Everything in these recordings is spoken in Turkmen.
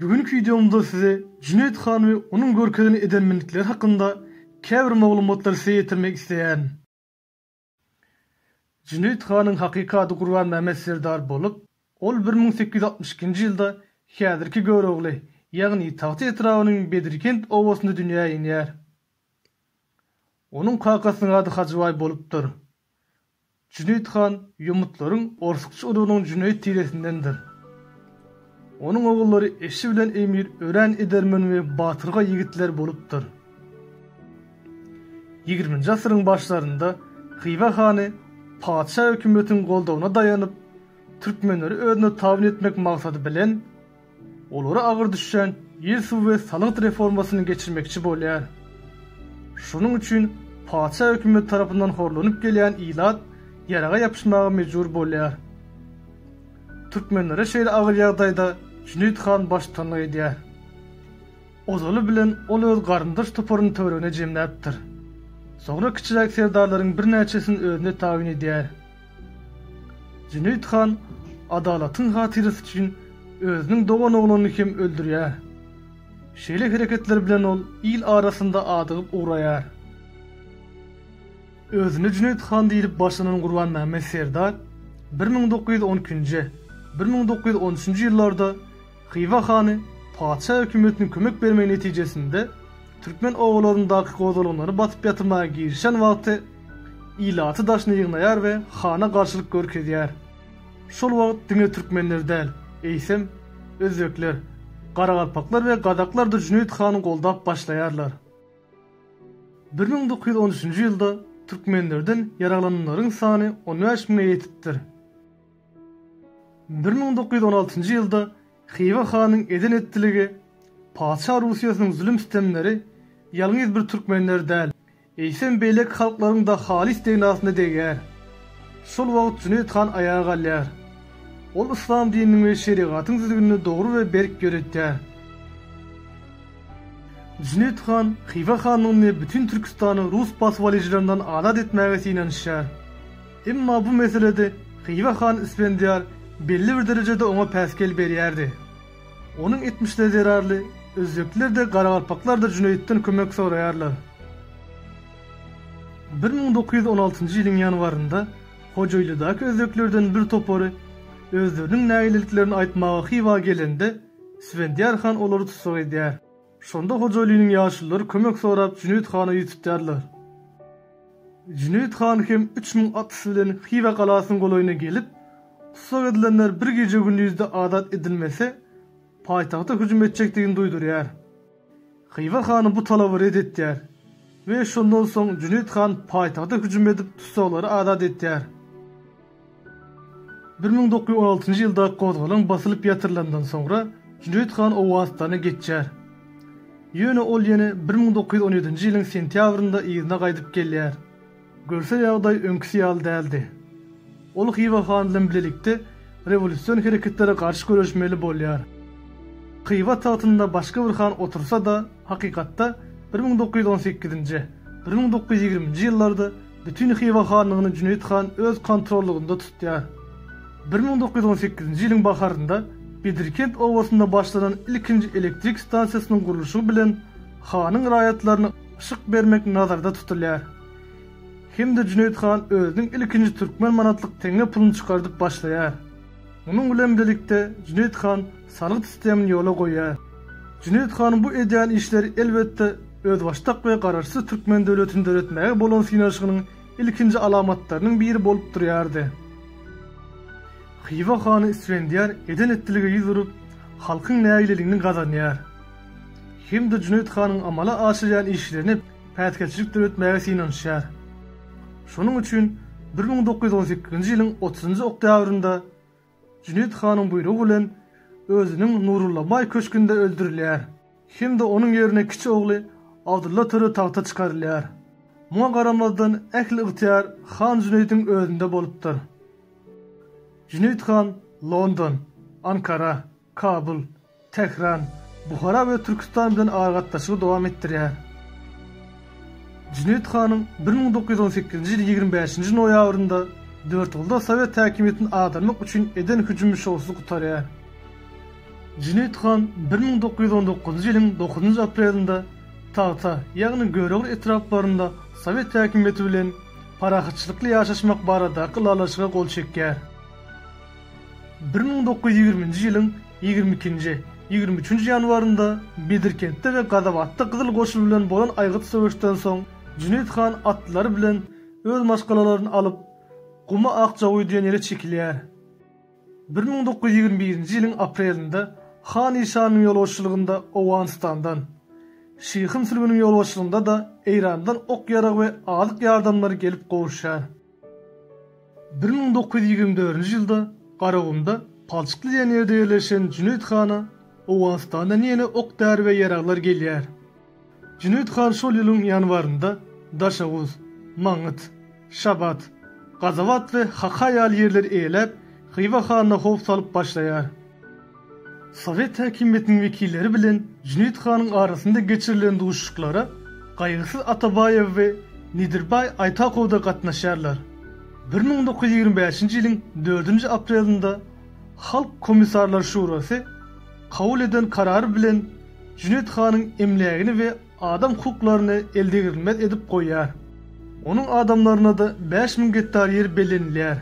Bu günki wideomda size Jüneýit han we onuň görkezen edermenlikleri hakynda käbir maglumatlary size ýetirmek isleýän. Jüneýit hanyň hakyky ady Gurbanmämmet serdar bolup, ol bir müň sekiz ýüz altmyş ikinji ýylda häzirki Görogly, ýagny Tagta etrabynyň Bedirkent obasynda dünýä inýär. Onuň kakasynyň ady Hajybaý bolupdyr. Jüneýit han ýomutlaryň orsukçy urugynyň Jüneýit tiresindendir. Onuň ogullary Eşi bilen Emir örän edermen we batyrgaý ýigitler bolupdyr. Ýigriminji asyryň başlarynda Hywa hany patyşa hökümetiň goldawyna daýanyp, türkmenleri özüne tabyn etmek maksady bilen, Olara agyr düşýän ýer suw we salgyt reformasyny geçirmekçi bolýar. Şonuň üçin patyşa hökümeti tarapyndan horlanyp gelýän ilat ýaraga ýapyşmaga mejbur bolýar. Türkmenlere şeýle agyr ýagdaýda Jüneýit han baştutanlyk edýär. Ozaly bilen ol öz garyndaş toparyny töweregine jemläpdir. Soňra kiçiräk serdarlaryň birnäçesini özüne tabyn edýär. Jüneýit han adalatyň hatyrasy üçin özüniň dogan ogluny hem öldürýär. Şeýle hereketler bilen ol il arasynda adygyp ugraýar. Özüne Jüneýit han diýlip başlanan Gurbanmämmet serdar bir müň dokuz ýüz on ikinji, bir müň dokuz ýüz on üçünji ýyllarda Hywa hany patyşa hökümetiniň kömek bermegi netijesinde türkmen obalaryndaky gozgalaňlary basyp ýatyrmaga girişen wagty ilaty daşyna ýygnaýar we hana garşylyk görkezýär. Şol wagt diňe türkmenler däl, eýsem, özbekler, garagalpaklar we gazaklar-da Jüneýit hany goldap başlaýarlar. Bir müň dokuz ýüz on üçünji ýylda türkmenlerden ýaraglananlaryň sany on bäş müňe ýetipdir. Bir müň dokuz ýüz on altynjy ýylda Hywa hanyň eden-etdiligi, patyşa Russiýasynyň zulum-sütemleri ýalňyz bir türkmenleri däl, eýsem beýleki halklaryň-da halys degnasyna degýär. Şol wagt Jüneýit han aýaga galýar. Ol yslam dininiň we şerigatyň düzgünini dogry we berk ýöretýär. Jüneýit han Hywa hanlygyny bütin Türkistany rus basybalyjylaryndan azat etmäge synanyşýar. Emma bu meselede Hywa hany Ispendiýar belli bir derejede oňa päsgel berýärdi. Onuň etmişleri zerarly özbekler-de, garagalpaklar-da Jüneýitden kömek soraýarlar. Bir müň dokuz ýüz on altynjy ýylyň ýanwarynda Hojaýlydaky özbeklerden bir topary özleriniň nägileliklerini aýtmaga Hywa gelende, Ispendiýar han olary tussag edýär. Şonda Hojalynyň ýaşulylary kömek sorap Jüneýit hana ýüz tutýarlar. Jüneýit han hem üç müň atlysy bilen Hywa galasynyň golaýyna gelip, tussag edilenler bir gije-gündizde azat edilmese, paýtagta hüjüm etjekdigini duýdurýar. Hywa hany bu talaby ret etýär we şondan soň Jüneýit han paýtagta hüjüm edip tussaglary azat etýär. Bir müň dokuz ýüz on altynjy ýylda gozgalaň basylyp ýatyrylandan soňra Jüneýit han Owganystana geçýär. Ýöne ol ýene bir müň dokuz ýüz on ýedinji ýylyň sentýabrynda yzyna gaýdyp gelýär. Görse ýagdaý öňküsi ýaly däldi. Ol Hywa han bilen bilelikde rewolýusion hereketlere garşy göreşmeli bolýar. Hywa tagtynda başga bir han otursa-da, hakykatda bir müň dokuz ýüz on sekizinji, bir müň dokuz ýüz ýigriminji ýyllarda Bütin Hywa hanlygyny Jüneýit han öz kontrollygynda tutýar. Bir müň dokuz ýüz on sekizinji ýylyň baharynda Bedirkent obasynda başlanan ilkinji elektrik stansiýasynyň gurluşygy bilen hanyň raýatlaryna yşyk bermek nazarda tutulýar hem-de Jüneýit han özüniň ilkinji türkmen manatlyk teňňe puluny çykardyp başlaýar. Munuň bilen birlikde Jüneýit han salgyt sistemini ýola goýýar. Jüneýit hanyň bu edýän işleri elbetde özbaşdak we garaşsyz türkmen döwletini döretmäge bolan synanyşygynyň ilkinji alamatlarynyň biri bolup durýardy. Hywa hany Isfendiýar eden-etdilige ýüz urup, halkyň nägileligini gazanýar. Hem-de Jüneýit hanyň amala aşyrýan işlerine päsgelçilik döretmäge synanyşýar. Şonuň üçin bir müň dokuz ýüz on sekizinji ýylyň otuzynjy oktýabrynda Jüneýit hanyň buýrugy bilen özüniň Nurullabaý köşgünde öldürilýär hem-de onuň ýerine kiçi ogly Abdylla töre tagta çykarylýar. Muňa garamazdan ähli ygtyýar han Jüneýidiň özünde bolupdyr. Jüneýit han London, Ankara, Kabul, Tähran, Buhara we Türküstan bilen aragatnaşygy dowam etdirýär. Jüneýit hanyň bir müň dokuz ýüz on sekizinji ýyl ýigrimi bäşinji noýabrynda Dörtgulda sowet häkimiýetini agdarmak üçin eden hüjümi şowsuz gutarýar. Jüneýit han bir müň dokuz ýüz on dokuzynjy ýylyň dokuzynjy aprelinde tagta, ýagny Görogly etraplarynda sowet häkimiýeti bilen parahatçylykly ýaşaşmak baradaky ylalaşyga gol çekýär. Bir müň dokuz ýüz ýigriminji ýylyň ýigrimi ikinji, ýigrimi üçünji ýanwarynda Bedirkentde we Gazabatda Gyzyl Goşun bilen bolan aýgytly söweşden soň Jüneýit han atlylary bilen öz maşgalalaryny alyp, Guma Akjawuý diýen ýere çekilýär. Bir müň dokuz ýüz ýigrimi birinji ýylyň aprelinde han işanyň ýolbaşçylygynda Owganystandan, Şyhyn Sülbüniň ýolbaşçylygynda-da Eýrandan ok-ýarag we azyk ýardamlary gelip gowuşýar. Bir müň dokuz ýüz ýigrimi dördünji ýylda Garagumda, palçykly diýen ýerde ýerleşen Jüneýit hana Owganystandan ýene ok-däri we ýaraglar gelýär. Jüneýit han şol ýylyň ýanwarynda Daşoguz, Maňňyt, Şabat, Gazabat we Haka ýaly ýerleri eýeläp, Hywa hanyna howp salyp başlaýar. Sowet häkimiýetiniň wekilleri bilen Jüneýit hanyň arasynda geçirilen duşuşyklara Gaýgysyz Atabaýew we Nedirbaý Aýtakow-da gatnaşýarlar. Bir müň dokuz ýüz ýigrimi bäşinji ýylyň dördünji aprelinde Halk Komissarlar Şurasy kabul eden karary bilen Jüneýit hanyň emlägini we adam hukuklaryny eldegrilmez edip goýýar. Onuň adamlaryna-da bäş müň gektar ýer bellenilýär.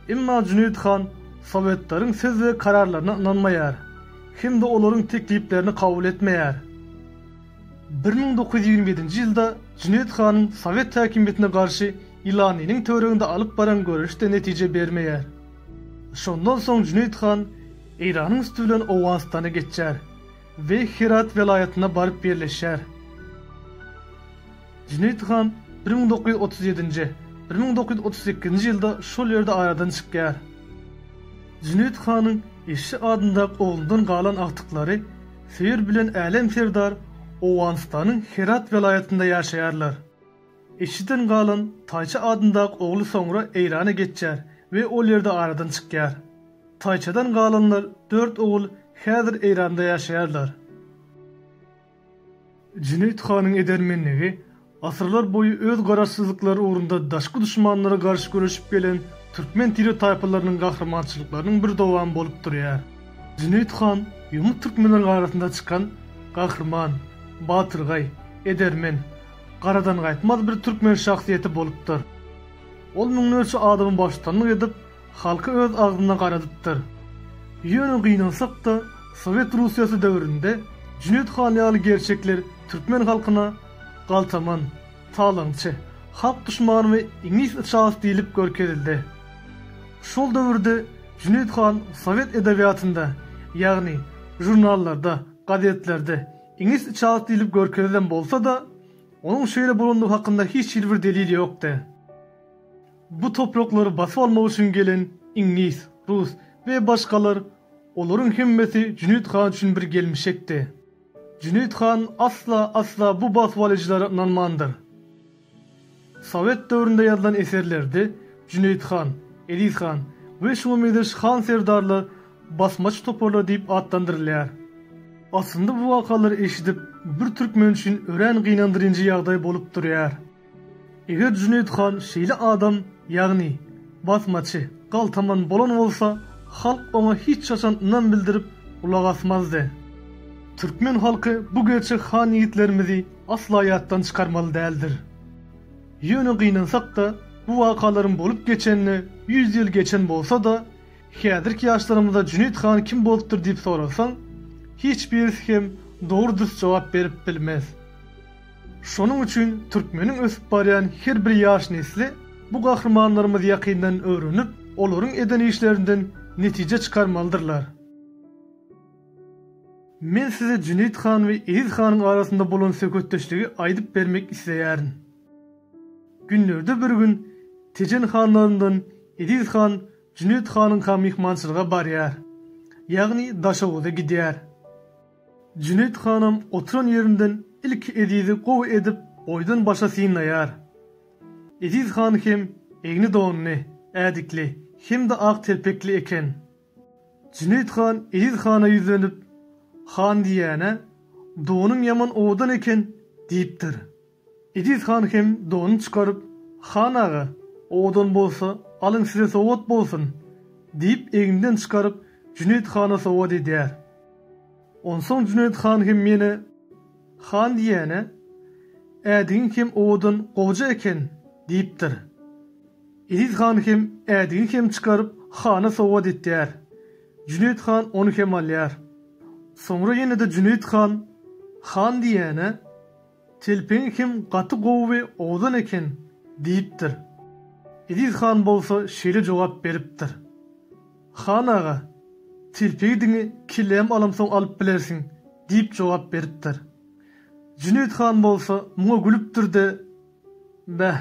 Emma Jüneýit han sowetleriň söz we kararlaryna ynanmaýar hem-de olaryň tekliplerini kabul etmeýär. Bir müň dokuz ýüz ýigrimi ýedinji ýylda Jüneýit hanyň sowet häkimiýetine garşy Ilanynyň töwereginde alyp baran göreşi-de netije bermeýär. Şondan soň Jüneýit han Eýranyň üsti bilen Owganystana geçýär we Herat welaýatyna baryp ýerleşýär. Jüneýit han bir müň dokuz ýüz otuz ýedinji, bir müň dokuz ýüz otuz sekizinji ýylda şol ýerde aradan çykýar. Jüneýit hanyň Eşşi adyndaky oglundan galan agtyklary Söýer bilen Älem serdar Owganystanyň Herat welaýatynda ýaşaýarlar. Eşşiden galan Taýça adyndaky ogly soňra Eýrana geçýär we ol ýerde aradan çykýar. Taýçadan galanlar dört ogul häzir Eýranda ýaşaýarlar. Jüneýit hanyň edermenligi, asyrlar boýy öz garaşsyzlyklary ugrunda daşky duşmanlara garşy göreşip gelen türkmen tire-taýpalarynyň gahrymançylyklarynyň bir dowamy bolup durýar. Jüneýit han ýomut türkmenleriň arasynda çykan gahryman, batyrgaý, edermen, garadangaýtmaz bir türkmen şahsyýeti bolupdyr. Ol müňlerçe adamy baştutanlyk edip, Halky öz agzyna garadypdyr. Ýöne gynansak-da, Sowet Russiýasy döwründe Jüneýit han ýaly gerçekler türkmen halkyna galtaman, talaňçy, halk duşmany we iňlis içalasy diýlip görkezildi. Şol döwürde Jüneýit han sowet edebiýatynda, ýagny žurnallarda, gazetlerde iňlis içalasy diýlip görkezilen bolsa-da, onuň şeýle bolandygy hakynda hiç hili bir delil ýokdy. Bu topraklary basyp almak üçin gelen iňlis, rus we başgalar, olaryň hemmesi Jüneýit han üçin bir gelmişekdi. Jüneýit han asla, asla bu basyp alyjylara ynanmandyr. Sowet döwründe ýazylan eserlerde Jüneýit han, Eziz han we şuňa meňzeş han-serdarlar basmaçy toparlar diýip atlandyrylýar. Aslynda bu wakalary eşidip, bir türkmen üçin örän gynandyryňjy ýagdaý bolup durýar. Eger Jüneýit han şeýle adam, ýagny basmaçy, galtaman bolan bolsa, halk oňa hiç haçan ynam bildirip gulak asmazdy. Türkmen halky bu gerçek han ýigitlerimizi asla ýatdan çykarmaly däldir. Ýöne gynansak-da, bu wakalaryň bolup geçenine ýüz ýyl geçen bolsa-da, häzirki ýaşlarymyza Jüneýit han kim bolupdyr diýip soralsaň, hiç birisi hem dogry-dürs jogap berip bilmez. Şonuň üçin türkmeniň ösüp barýan her bir ýaş nesli bu gahrymanlarymyzy ýakyndan öwrenip, olaryň eden işlerinden netije çykarmalydyrlar. Men size Jüneýit han we Eziz hanyň arasynda bolan söhbetdeşligi aýdyp bermek isleýärin. Günlerde bir gün Tejen hanlaryndan Eziz han Jüneýit hanyňka myhmançylyga barýar. Ýagny Daşoguza gidýär. Jüneýit hanam oturan ýerinden ilki Ezizi gowy edip boýdan başa synlaýar. Eziz han hem egni donly, ädikli hem-de ak telpekli eken. Jüneýit han Eziz hana ýüzlenip, Han diýýän-ä, donuň ýaman owadan eken, diýipdir. Ejiz han hem donuny çykaryp, Han aga, owadan bolsa, alyň size sowgat bolsun! diýip, egninden çykaryp, Jüneýit hana sowgat edýär. Onsoň Jüneýit han hem ýene, Han diýýän-ä, ädigiň hem owadan gowja eken! diýipdir. Ejiz han hem ädigini hem çykaryp, hana sowgat etýär. Jüneýit han ony hem alýar. Soňra ýene-de Jüneýit han, Han diýýän-ä. Telpegiň hem gaty gowy we owzan eken, diýipdir. Eziz han bolsa şeýle jogap beripdir. Han aga, telpegi diňe kellämi alamsoň alyp bilersiň, diýip jogap beripdir. Jüneýit han bolsa muňa gülüpdir-de, Bäh,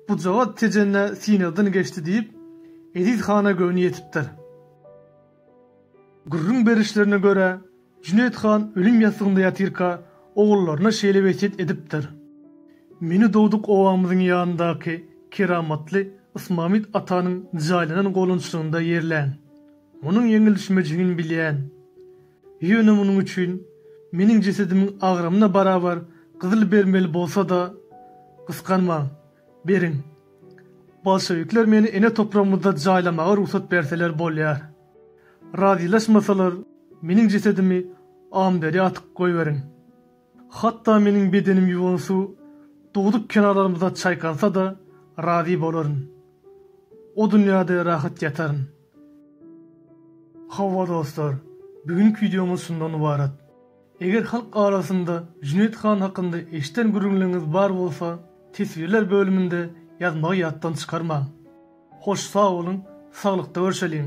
bujagaz Tejenä synagdan geçdi diýip, Eziz hana göwni ýetipdir. Gürrüň berişlerine görä, Jüneýit han ölüm ýassygynda ýatyrka, ogullaryna şeýle wesýet edipdir, Meni dogduk obamyzyň ýanyndaky keramatly Ysmamyt atanyň jaýlanan golonçlygynda ýerläň. Munuň ýeňilişmejigini bilýän. Ýöne munuň üçin meniň jesedimiň agramyna barabar gyzyl bermeli bolsa-da, gysganmaň. Beriň. Bolşewikler meni ene topragymyzda jaýlamaga rugsat berseler bolýar. Razylaşmasalar, meniň jesedimi Amberýa atyp goýberiň. Hatda meniň bedenim ýuwan suw dugduk kenarlarymyza çaýkansa-da, razy bolaryn. O dünýäde rahat ýataryn. Hawa dostlar, bigünki wideomyz şundan ybarat. Eger halk arasynda Jüneýit han hakynda eşiden gürrüňleriňiz bar bolsa, teswirler bölüminde ýazmagy ýatdan çykarmaň. Hoş sag boluň, saglykda görşeliň!